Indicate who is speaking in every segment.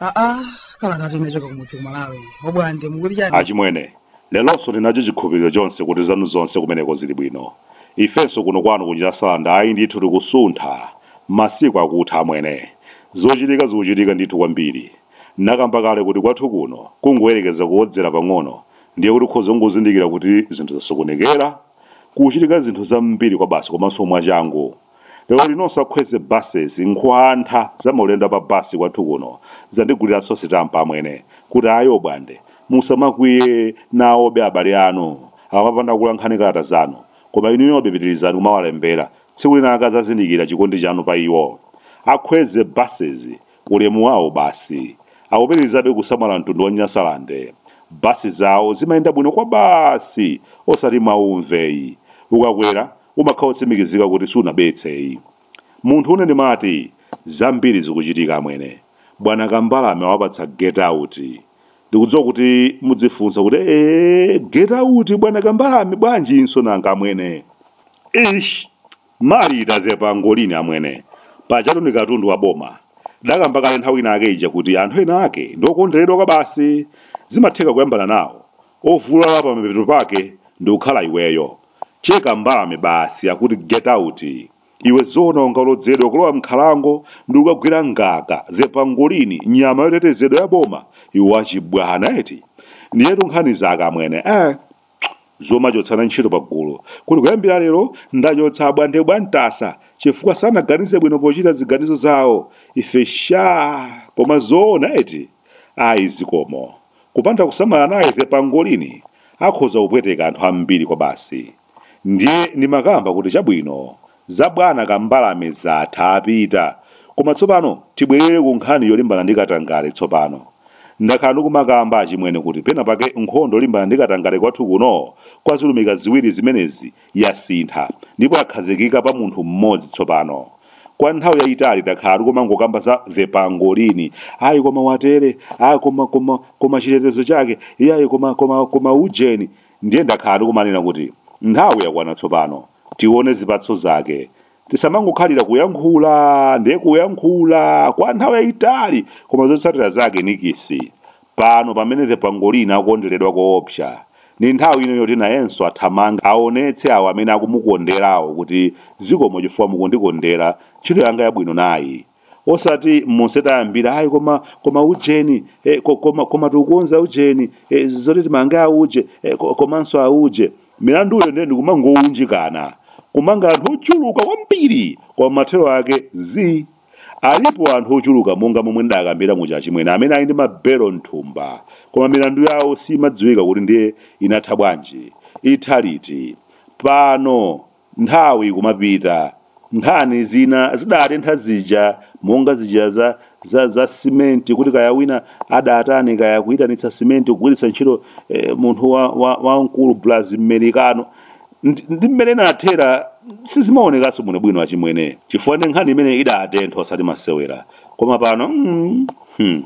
Speaker 1: aa kalata inachoka kumudzi kumalawi Obwande mukuti chani achimwene lelonso ndinacho chikhulupiriro chonse kuti zanu zonse kumeneko zili bwino ifenso kuno kwanu kuchita salanda ayi ndithu tikusuntha masiku akutha amwene zochitika zikuchitika ndithu kwambiri Nakamba kale kuti kwathu kuno kungoyerekeza kuodzera pang'ono ndiye kuti ukhoza kungozindikira kuti zinthu zasokonekera, kuchitika zinthu zambiri kwabasi komanso mwachangu. Lero usakhweze buses nkhwantha za maulendo a pa bus kwathu kuno zandiguliranso sitampa amwene kuti ayi obwande musamakwiye nawobe abale anu akamapanda kukuyankhani kalata zanu koma inuyobe pitirizani kumawalembera tsiku lina adzazindikira chikondi chanu pa iwo akhweze buses Ulemu wawo basi. Akupitirizabe kusamala mtundu wa Nyasalande. Bus zawo zimayenda bwino kwabasi osati mwawumveyi. Ukakwera umakhala otsimikizika kuti sunabetseyi. Munthu une ndimati zambiri zikuchitika amwene. Bwana Kambalame awapatsa get out. Ndikudziwa kuti mudzifunsa kuti eeh get out bwana Kambalame bwanjinso nanga amwene. Eish! Marita the pangolini amwene. Pajatu ndi katundu wa boma. Tidakamba kale nthawi ina yake ija kuti anthu ena ake ndi okonderedwa kwabasi. Zimatheka kuyambana nawo. Ovulala pamapeto pake ndi kukhala iweyo. Che Kambalame basi akuti get out. Iwe zoona ungalodzedwe kulowa m'nkhalango ndi kukagwira ngaka, the pangolini, nyama yotetezedwa ya boma? Iwe wachibwana eti? Ndiyetu nkhani zake amwene. Eh. zomachotsana ntchito pagulu kuti kuyambira lero ndachotsa Obwande bwa Mtasa chifukwa sanaganize bwino pochita ziganizo zawo ife sha koma zoona eti ayi zikomo kupanda kusamala naye the pangolini akhoza kupweteka anthu ambiri kwabasi ndiye ndimakamba kuti chabwino Za bwana kambalame zatha apita koma tsopano tibwerere ku nkhani yolimbana ndi katangale tsopano. Ndakhala ndikumakamba achimwene kuti pena pake nkhondo yolimbana ndi katangale kwathu kuno kwa zilumika ziwiri zimenezi yasintha ndipo yakhazikika pa munthu mmodzi tsopano. Kwa nthawi yayitali takhala tikumangokamba za the pangolini ayi koma atere ah koma koma koma chitetezo chake iyayi koma koma koma ujeni Ndiye ndakhala ndikumanena kuti nthawi yakwana tsopano tione zipatso zake. Tisamangokhalira kuyankhula ndiye kuyankhula kwa nthawi yayitali koma zotsatira zake nikisi. Pano pamene The Pangolin akukonderedwa koopsa, ndi nthawi ino yoti nayenso athamange aonetse awo amene akumukonderawo kuti zikomo chifukwa mukundikondera, ntchito yanga yabwino nayi. osati monse tayambira ayi koma koma ujeni eh, ko- koma koma tikukonza ujeni eh, zoti timange auje eh, ko- komanso auje milanduyo ndiye ndikumangounjikana kumanga anthu ochuluka kwambiri koma mathero ake zii alipo anthu ochuluka monga momwe nidakambira muja achimwene amene ali ndi mabelo mthumba koma milandu yawo siimadziwika kuti ndiye inatha bwanji itha liti pano Nthawi ikumapita, nkhani zina zidatentha zija monga zija za za za simenti kuti kaya wina adatani kaya kuyitanitsa simenti kugwiritsa ntchito eh, munthu wa, wa, wamkulu blazi amerikano Ndi- ndi mmene inathera sizimaonekanso bwinobwino achimwene chifukwa ndi nkhani imene idatentha osati masewera koma pano mm, hmm.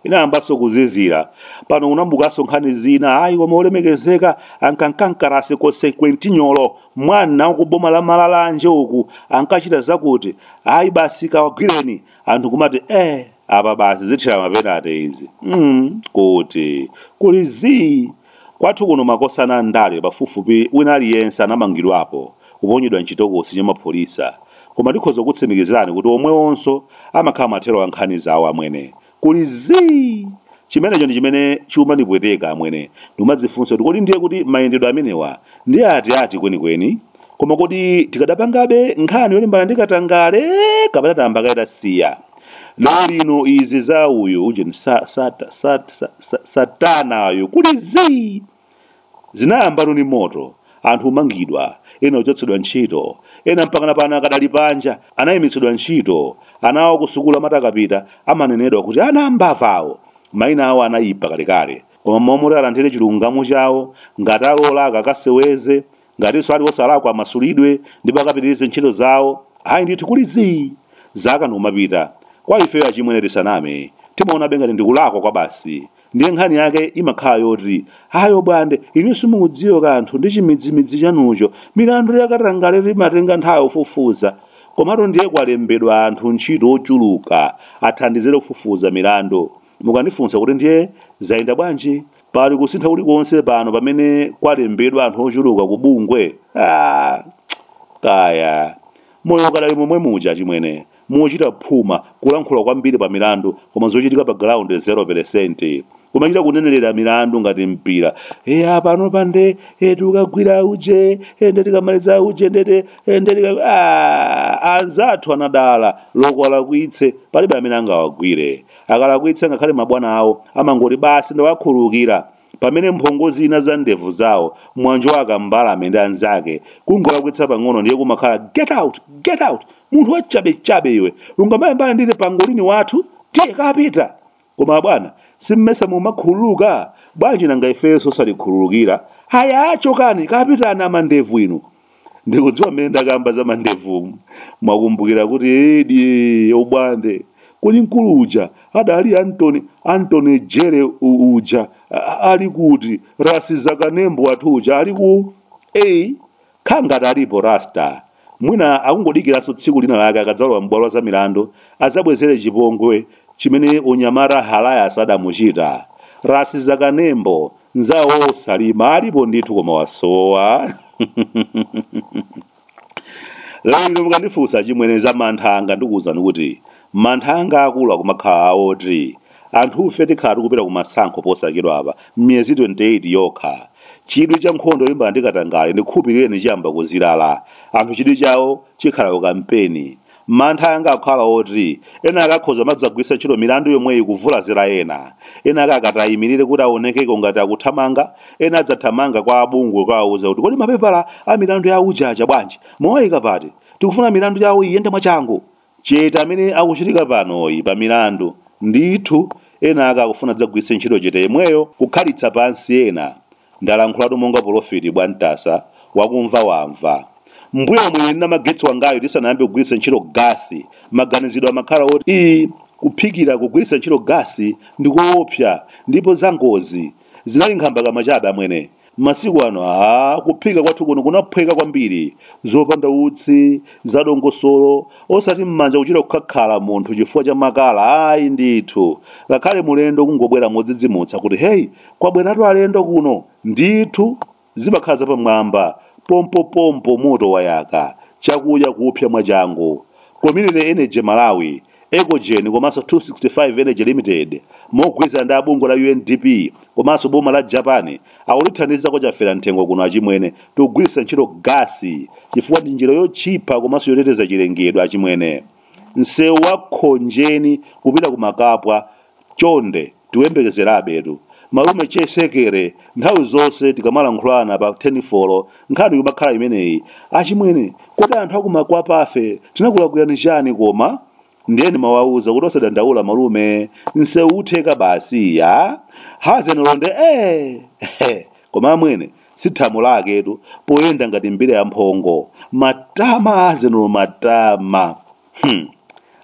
Speaker 1: inayambanso kuzizira pano kunabukanso nkhani zina ayi koma olemekezeka ankamka mkalasi konsekwentinyolo mwina ku boma la malalanje uku ankachita zakuti ayi basi kawagwireni anthu kumati eh apa basi zithera mapenate izi mm, kuti kuli zii Kwathu kuno makosana a ndale pafupifupi wina aliyense anamangidwapo, kuponyedwa m'chitokosi cha mapholisa, koma ndikhoza kukutsimikizirani kuti omwewonso amakhala mathero a nkhani zawo, amwene. Kuli zii! Chimenecho ndi chimene chikumanipweteka, amwene. Ndikumadzifunsa kuti kodi ndiye kuti mayendedwe amenewa ndi atiati kwenikweni? Koma kodi tikanapangabe nkhani yolimbana ndi katangale kapena tayamba kaye tasiya? Lerolino izi za uyu ujeni sa, sa, sa, sa, sa- sattar uyu kuli zii zinayambatu ni moto anthu kumangidwa ena ochotsedwa ntchito ena mpakana pano akadali panja anayimitsidwa ntchito ana awo kusukulu amati akatapita amanenedwa kuti ana ambava awo mayina awo anayipa kalekale koma mwayi woti alandire chilungamo chawo ngati alakwa akaseweze ngatinso ali osalakwa amasulidwe ndipo akapitirize ntchito zawo ayi ndithu kuli zii zaka ndikumapita kwa ifeyo achimwene tisaname timaonabe ngati ndikulakwa kwa basi ndiye nkhani yake imakhala yoti ayi obwande inu simukudziwa kanthu ndi chimidzimidzi chanucho milandu yakatangale imatenga nthawi kufufuza komatu ndiye kwalembedwa anthu ntchito ochuluka athandizire kufufuza milandu mukandifunsa kuti ndiye zayenda bwanji pali kusintha kulikonse pano pamene kwalembedwa anthu ochuluka ku bungwe ah, kaya moyo ukadali momwe muja achimwene kuchita phuma kulankhula kwambiri pa milandu koma zochitika pa ground 0 kumachita kunenerera milandu ngati mpira eya pano pande e, tikagwira auje e, nde tikamaliza auje nde e, nde tika ah, anzathu anadala olo akalakwitse palibe amene angawagwire akalakwitsa ngakhale mabwana awo amangoti basi ndawakhululukira pamene mphongo zina za ndevu zawo mwanjowa kambalame ndi anzake kungolakwitsa pang'ono ndiye kumakhala get out get out munthu wachabechabe iwe ungamayambane ndine pangolini wathu tiye kapita koma bwana simmesa mumakhululuka bwanji nanga ifeso osatikhululukira haya chokani kapitani amandevu inu ndikudziwa mmene ndakamba za mandevumu mwakumbukira kuti edi obwande kodi mkulu uja adali antony antony jere u- uja a- a- ali kuti rasi zakanembo wathu uja ali ku a kha ngati alipo rasta mwina akungodikiranso tsiku lina lake akadzalowa m'bwalo za milandu adzabwezere chipongwe chimene unyamata halayas adamuchita rasi zakanembo nzawo salima alipo ndithu koma wasowa lero mukandifunsa chimwene za mantha anga ndikuwuzani kuti mantha anga akulu akumakhala awoti anthufe tikhala tikupita ku masankho posachedwa apa m'miyezi 28 yokha chidwi cha nkhondo yolimbana ndi katangale ndikhulupilireni chiyamba kuzilala anthu chidwi chawo chikhala ku kampeni Mantha anga akukhala oti ena ake akhoza kumadzagwiritsa ntchito milandu yomweyi kuvulazira ena. Ena ake akati ayimirire kuti aonekeko ngati akuthamanga, ena adzathamanga kwa a bungwe kukawauza kuti kodi mapepala a milandu ya uje aja bwanji? Muwaika pati? Tikufuna milandu yawo iyende mwachangu. Chete amene akuchitika panoyi pa milandu, ndithu ena ake akufuna adzagwiritse ntchito chete yemweyo kukhalitsa pansi ena. Ndalankhulatu monga polofiti bwantasa wakumva wamva. Mmbuyomu ine ndi namagetsi wangayu tisanayambe kugwiritsa ntchito gasi maganizidwe amakhala oti ii kuphikira kugwiritsa ntchito gasi ndikoopsa ndipo za ngozi zinali nkhambakamwa chabe amwene masiku ano aa kuphika kwathu kuno kunaphweka kwambiri zopanda utsi zadongosolo osati m'manja kuchita kukhakhala munthu chifukwa cha makala ayi ndithu ngakhale mulendo kungobwera modzidzimutsa kuti hey Kwabweratu alendo kuno! Ndithu, zimakhala zapamwamba. Pompopompo moto wayaka, chakudya kupsa mwachangu. Community Energy Malawi, Ecogen komanso 265 Energy Limited mogwirizana ndi a bungwe la UNDP komanso boma la Japan akutithandiza kwa Chaferamthengo kuno achimwene tikugwiritsa ntchito gasi chifukwa ndi njira yotchipa komanso yoteteza chilengedwe achimwene. Msewu wa Khonjeni kupita ku Makapwa Chonde tikuyembekezerabetu malume che sekere nthawi zonse tikamalankhulana pa tenifolo nkhani kumakhala imeneyi achimwene kodi anthu aku makwapafe tinakulakwirani chani koma? ndiye ndimawauza kuti osadandaula malume nsewu utheka basi ya hazenolo nde eeh koma amwene si thamo laketu poyenda ngati mbira ya mphongo matama hazenolo matama hmm.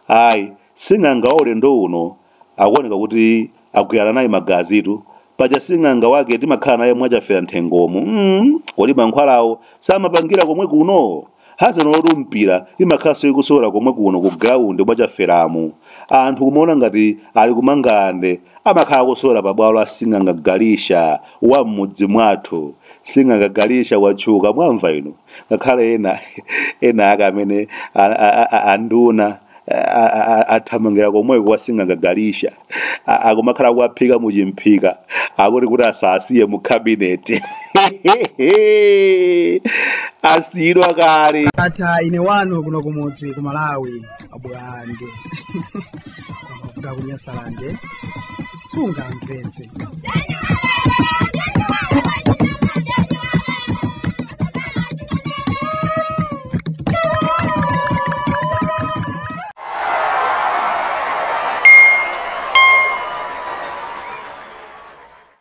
Speaker 1: ayi Sing'anga wa ulendo uno akuoneka kuti agwirana naye magazitu. Paja sing'anga wake timakhala naye mwachafera nthengomu. Mm, kodi mankhwalawo samapangira komwe kuno? Dzana lotu mpira imakhalanso ikusewera komwe kuno ku ground mwachaferamu. Anthu kumaona ngati ali ku Mangalande amakhala akusewera pa bwalo la sing'anga Galisha wa m'mudzi mwathu. Sing'anga Galisha watchuka mwamva inu. ngakhale ena ena ake amene a- a- a- anduna a- a- a- athamangira komweko kwa sing'anga Galisha A- akumakhala akuwaphika muchimphika akuti kuti asawasiye mu kabineti asiyidwa kale tatha ine wanu kuno kumudzi ku malawi abulande kuvuga kunyasalande sungamvetse